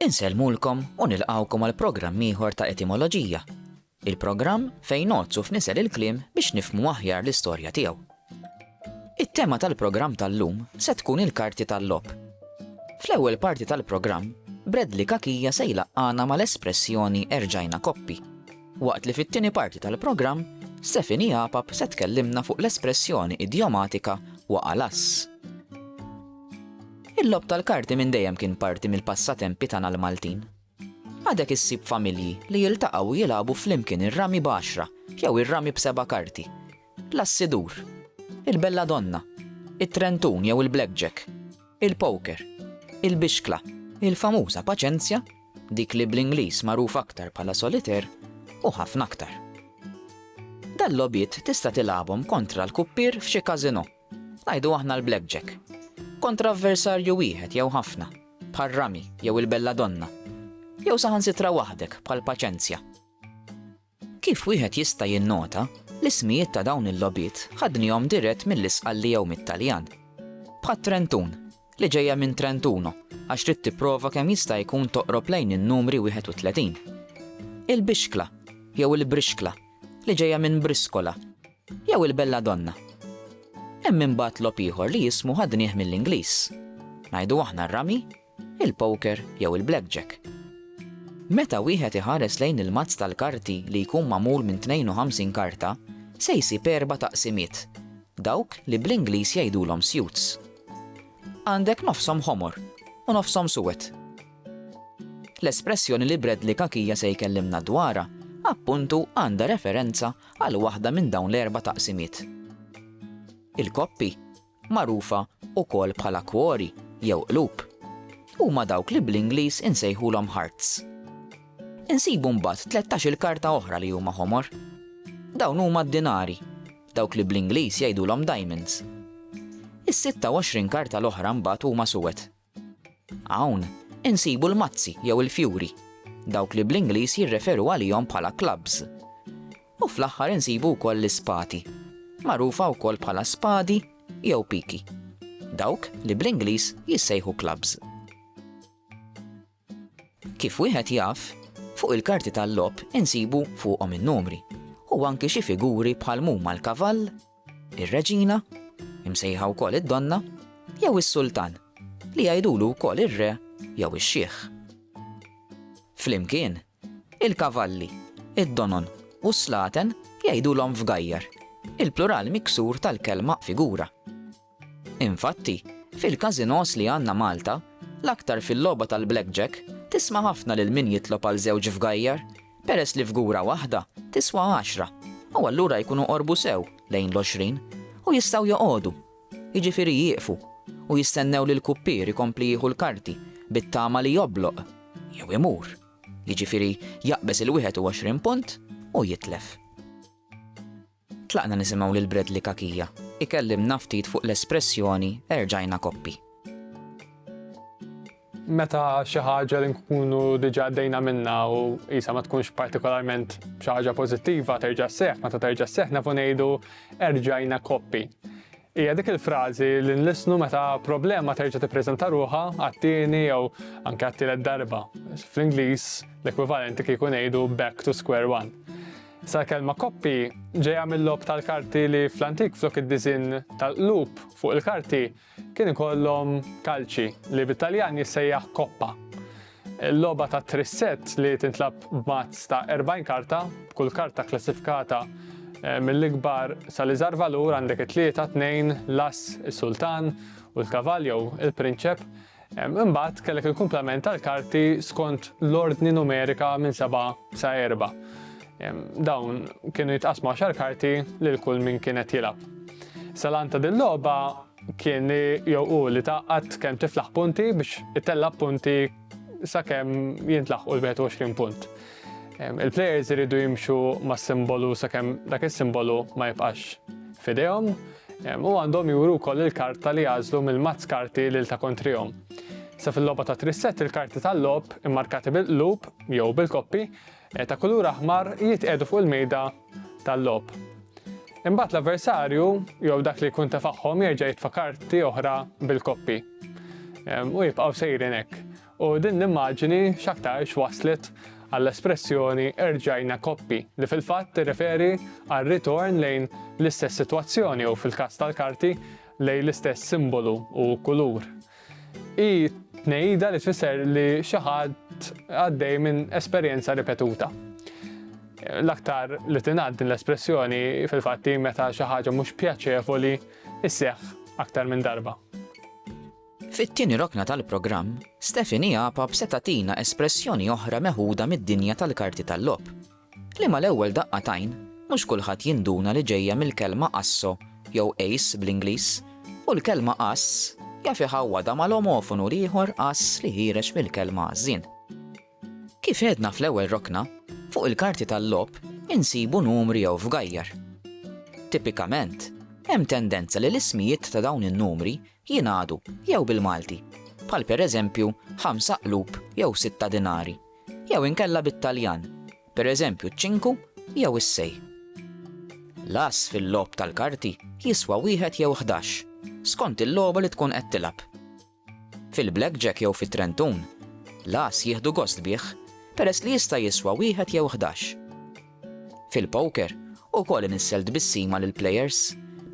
Insellmulkom u nilqgħukom għal programm ieħor ta' Etimoloġija, il-programm fejn ngħoddsu f'nisel il-kliem biex nifhmu aħjar l-istorja tiegħu. It-tema tal-programm tal-lum se tkun il-karti tal-logħob. Fl-ewwel parti tal-programm, Bradley Cachia se jlaqqana mal-espressjoni erġajna koppi, waqt li fit-tieni parti tal-programm Stephanie Apap se tkellimna fuq l-espressjoni idjomatika waqa' lass. Il-logħob tal-karti minn dejjem kien parti mill-passatempi tagħna l-Maltin. Għadek issib familji li jiltaqgħu u jilagħbu flimkien ir-rami b'għaxra jew ir-rami b'seba' karti, l-assidur, il-belladonna, it-trentun jew il-blackjack, il-poker, il-bixkla, il-famuża paċenzja, dik li bl-Ingliż magħruf aktar bħala soliteur, u ħafna aktar. Dal-logħbiet tista' tilagħbhom kontra l-kuppier f'xi każinò. Ngħidu aħna l-blackjack. Kontra avversarju wieħed jew ħafna, bħal rami jew il-belladonna. Jew saħansitra waħdek bħal paċenzja. Kif wieħed jista' jinnota, l-ismijiet ta' dawn il-logħbiet ħadnihom dirett mill-Isqalli jew mit-Taljan. Bħat-Trentun, li ġejja minn Trentuno, għax trid tipprova kemm jista' jkun toqrob lejn in-numri 31. Il-bixkla, jew il-brixkla, li ġejja minn briskola, Jew il-belladonna. Hemm imbagħad logħob ieħor li jismu ħadnieh mill-Ingliż. Ngħidu aħna r-rami, il-poker jew il-blackjack. Meta wieħed iħares lejn il-mazz tal-karti li jkun magħmul minn 52 karta, se jsib erba' taqsimiet, dawk li bl-Ingliż jgħidulhom suits. Għandek nofshom ħomor u nofshom suwed. L-espressjoni li Bradley Kakija se jkellimna dwarha appuntu għandha referenza għal waħda minn dawn l-erba' taqsimiet. Il-koppi, magħrufa wkoll bħala kwori jew qlub, huma dawk li bl-Ingliż insejħulhom hearts. Insibu mbagħad tlettax-il karta oħra li huma ħomor. Dawn huma d-dinari, dawk li bl-Ingliż jgħidulhom diamonds. Is-26 karta l-oħra mbagħad huma suwed. Hawn, insibu l-mazzi jew il-fjuri, dawk li bl-Ingliż jirreferu għalihom bħala clubs. U fl-aħħar insibu wkoll l-ispati, magħrufa wkoll bħala spadi jew piki, dawk li bl-Ingliż jissejħu clubs. Kif wieħed jaf, fuq il-karti tal-logħob insibu fuqhom in-numri u anki xi figuri bħal mhuma l-kavall, ir-reġina, imsejħa wkoll id-donna, jew is-sultan, li jgħidulu wkoll ir-re jew ix-xiħ. Flimkien, Il-kavalli, id-donon u s-slaten jgħidulhom fgajjar, il-plural miksur tal-kelma figura. Infatti, fil-każinòs li għandna Malta, l-aktar fil-logħba tal-blackjack, tisma' ħafna lil min jitlob għal żewġ fgajjar, peress li fgura waħda tiswa għaxra u allura jkunu qorbu sew lejn l-għoxrin u jistgħu joqogħdu Jiġifieri jieqfu u jistennew li l-kuppier ikompli jieħu l-karti bit-tama li jobloq jew imur, jiġifieri jaqbeż il-21 punt u jitlef. Tlaqna nisimgħu lil Bradley Cachia ikellimna ftit fuq l-espressjoni erġajna koppi. Meta xi ħaġa li nkunu diġà għaddejna minnha u qisha ma tkunx partikolarment xi ħaġa pożittiva terġa' sseħħ, meta terġa' sseħħ nafu ngħidu erġajna koppi. Hija dik il-frażi li nlissnu meta problema terġa' tippreżenta ruħha għat-tieni jew anke għat-tielet darba. Fl-Ingliż l-ekwivalenti kieku ngħidu back to square one. Sa kelma koppi ġejja mill-lob tal-karti li fl-antik flok id-diżin tal-qlub fuq il-karti Kien ikollhom kalċi, li bit-Taljan jissejjaħ koppa. Il-logħba ta' trissett li tintlagħab b'mazz ta' 40 karta, b'kull karta kklassifikata eh, mill-ikbar sal-iżgħar valur għandek it-tlieta, tnejn, l-ass, is-sultan u l-kavaljo, il-prinċep, Imbagħad kellek il-kumplament tal-karti skont l-ordni numerika minn seba' sa erba'. Dawn kienu jitqasmu għaxar karti lil kull min kien qed jilgħab. Salan ta' din logħba kien li jew hu li tgħaqqad kemm tiflaħ punti biex itella' punti sakemm jintlaħqu l-21 punt. Il-plejers iridu jimxu mas-simbolu sakemm dak is-simbolu ma jibqax f'idejhom u għandhom juru wkoll il-karta li għażlu mill-mazz karti lil ta' kontrihom. Sa fil-logħba ta' trisset il-karti tal-logħob immarkati bil-qlub jew bil-koppi eh, ta' kulur aħmar jitqiegħdu fuq il-mejda tal-logħob. Imbagħad l-avversarju jew dak li jkun tefagħhom jerġa' jitfa' karti oħra bil-koppi. U jibqgħu sejrin hekk. U din l-immaġini x'aktarx wasslet għall-espressjoni erġajna koppi, li fil-fatt tirreferi għal ritorn lejn l-istess sitwazzjoni u, fil-każ tal-karti, lejn l-istess simbolu u kulur. Hi tnejida li tfisser li xi ħadd għaddej minn esperjenza ripetuta. L-aktar li tingħad din l-espressjoni fil-fatt hi meta xi ħaġa mhux pjaċevoli sseħħ aktar minn darba. Fit-tieni rokna tal-programm, Stephanie Apap se tagħtina espressjoni oħra meħuda mid-dinja tal-karti tal-logħob, li mal-ewwel daqqa t'għajn mhux kulħadd jinduna li ġejja mill-kelma asso jew ace bl-Ingliż, u l-kelma ass jaf iħawwadha mal-omofonu l-ieħor ass li ħiereġ mill-kelma għażżien. Kif għedna fl-ewwel rokna, fuq il-karti tal-logħob insibu numri jew fgajjar. Tipikament, hemm tendenza li l-ismijiet ta' dawn in-numri jingħadu jew bil-Malti, bħal pereżempju ħamsa qlub jew sitta dinari, jew inkella bit-Taljan, pereżempju ċ-ċinku jew is-sei. L-ass fil-logħob tal-karti jiswa wieħed jew ħdax, skont il-logħba li tkun qed tilgħab. Fil-blackjack jew fit-trentun, l-ass jieħdu gost bih peress li jista' jiswa wieħed jew ħdax. Fil-poker, ukoll inissel tbissima lill-plejers,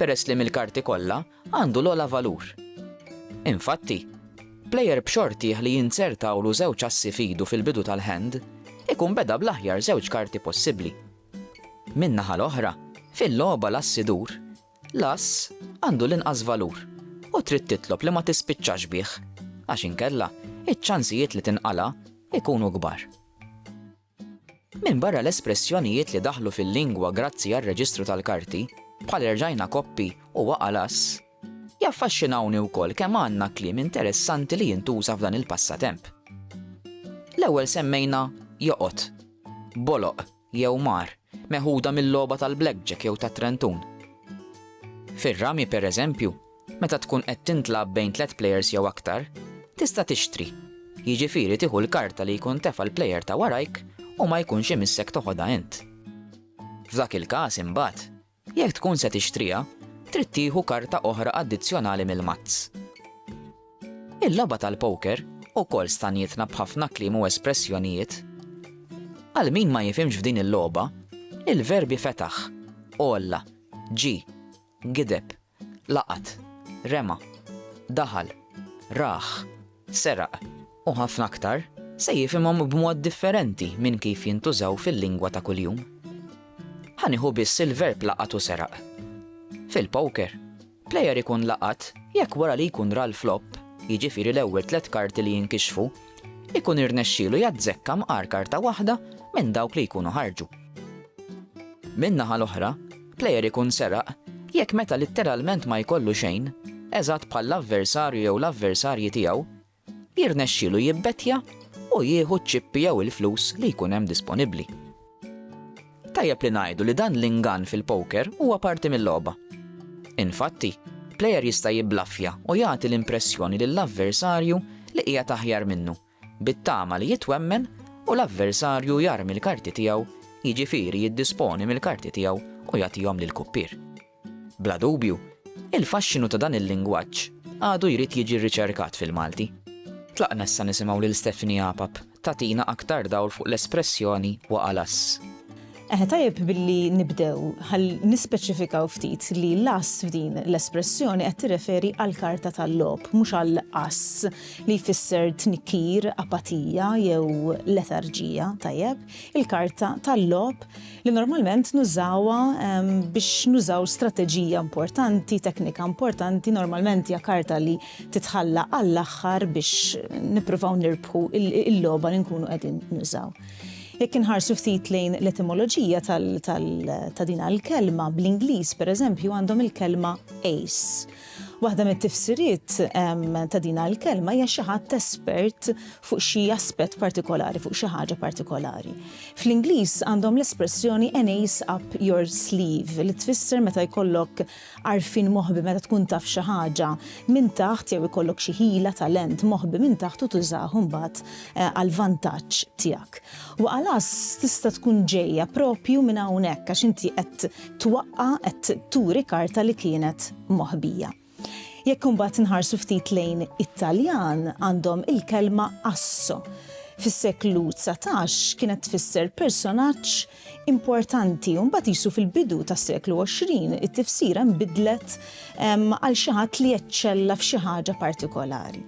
peress li mill-karti kollha għandu l-ogħla valur. Infatti, plejer b'xortih li jinzertawlu żewġ assi f'idu fil-bidu tal-hand ikun beda bl-aħjar żewġ karti possibbli. Min-naħa l-oħra, fil-logħba l-ass idur, l-ass għandu l-inqas valur u trid titlob li ma tispiċċax bih għax inkella iċ-ċansijiet li tinqala' jkunu kbar. Minbarra l-espressjonijiet li daħlu fil-lingwa grazzi għar-reġistru tal-karti, bħal erġajna koppi u waqa' l-ass, jaffaxxinawni wkoll kemm għandna kliem interessanti li jintuża f'dan il-passatemp. L-ewwel semmejna joqgħod, boloq jew mar, meħuda mil-logħba tal-blackjack jew tat-trentun. Fir-rami, pereżempju, Meta tkun qed tintlagħab bejn tliet plejers jew aktar, tista' tixtri, jiġifieri tieħu l-karta li jkun tefa' l-plejer ta' warajk u ma jkunx imissek toħodha int. F'dak il-każ imbagħad, jekk tkun se tixtriha, trid tieħu karta oħra addizzjonali mill-mazz. Il-logħba tal-poker ukoll stanietna b'ħafna kliem u espressjonijiet. Għal min ma jifhimx f'din il-logħba, il-verbi fetaħ, għolla, ġie, Gideb, laqat, rema, daħal, rah, seraq, u ħafna aktar, se jifhimhom b'mod differenti minn kif jintużaw fil-lingwa ta' kuljum. Ħa nieħu biss il-verb laqat u seraq. Fil-poker, plejer ikun laqat jekk wara li jkun ra l-flop, jiġifieri l-ewwel tliet karti li jinkixfu, ikun irnexxielu jazzekka mqar karta waħda minn dawk li jkunu ħarġu. Min-naħa l-oħra, Plejer ikun seraq jekk meta litteralment ma jkollu xejn, eżatt bħall-avversarju jew l-avversarji tiegħu, jirnexxilu jibbettja u jieħu ċ-ċippi jew il-flus li jkun hemm disponibbli. Tajjeb li ngħidu li dan l-ingann fil-poker huwa parti mil-logħba. Infatti, plejer jista' jibblaffja u jagħti l-impressjoni lill-avversarju li qiegħed aħjar minnu bit-tama li jitwemmen u l-avversarju jarmi l-karti tiegħu, jiġifieri jiddisponi mill-karti tiegħu u jagħtihom lill-kuppier. Bla dubju, il-faxxinu ta' dan il-lingwaġġ għadu jrid jiġi rriċerkat fil-Malti. Tlaqna issa nisimgħu lil Stephanie Apap tagħtina aktar dawl fuq l-espressjoni waqa' l-ass. Eħe tajjeb billi nibdew ħalli nispeċifikaw ftit li l-ass f'din l-espressjoni qed tirreferi għall-karta tal-logħob mhux għal ass li jfisser tnikkir, apatija jew letarġija, tajjeb? Il-karta tal-logħob li normalment nużawha biex nużaw strateġija importanti, teknika importanti, normalment hija karta li titħalla għall-aħħar biex nippruvaw nirbħu il-logħba li nkunu qegħdin nużaw. Jekk inħarsu ftit lejn l-etimoloġija ta' din il-kelma, bl-Ingliż pereżempju għandhom il-kelma ace. Waħda mit-tifsiriet ta' din il-kelma hija xi ħadd espert fuq xi aspett partikolari, fuq xi ħaġa partikolari. Fl-Ingliż għandhom l-espressjoni an ace up your sleeve li tfisser meta jkollok Għarfien moħbi meta tkun taf xi ħaġa minn taħt jew ikollok xi ħila, talent, moħbi minn taħt u tużah imbagħad għall-vantaġġ tiegħek. Waqalas tista' tkun ġejja proprju minn hawnhekk għax inti qed twaqqa' qed turi karta li kienet moħbija. Jekk imbagħad inħarsu ftit lejn it-Taljan għandhom il-kelma asso. Fis-seklu dsatax kienet tfisser personaġġ importanti u mbagħad qisu fil-bidu tas-seklu 20 it-tifsira nbidlet ehm, għal xi ħadd li eċċella f'xi ħaġa partikolari.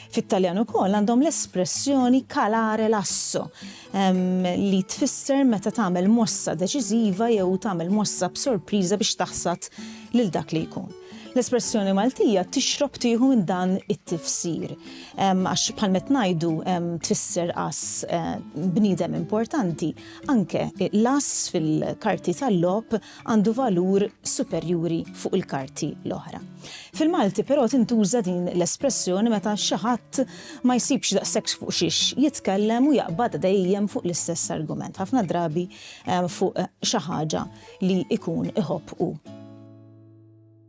Fit-Taljan ukoll għandhom l-espressjoni calare lasso ehm, li tfisser meta tagħmel mossa deċiżiva jew tagħmel mossa b'sorpriża biex taħsad lil dak li jkun. L-espressjoni Maltija tixrob tieħu minn dan it-tifsir. Ehm, għax bħalmet ngħidu tfisser qas eh, bniedem importanti. Anke l-ass fil-karti tal-logħob għandu valur superjuri fuq il-karti l-oħra. Fil-Malti però tintuża din l-espressjoni meta xi ħadd ma jsibx daqshekk fuq xiex jitkellem u jaqbad dejjem fuq l-istess argument, ħafna drabi fuq xi ħaġa li jkun iħobb hu.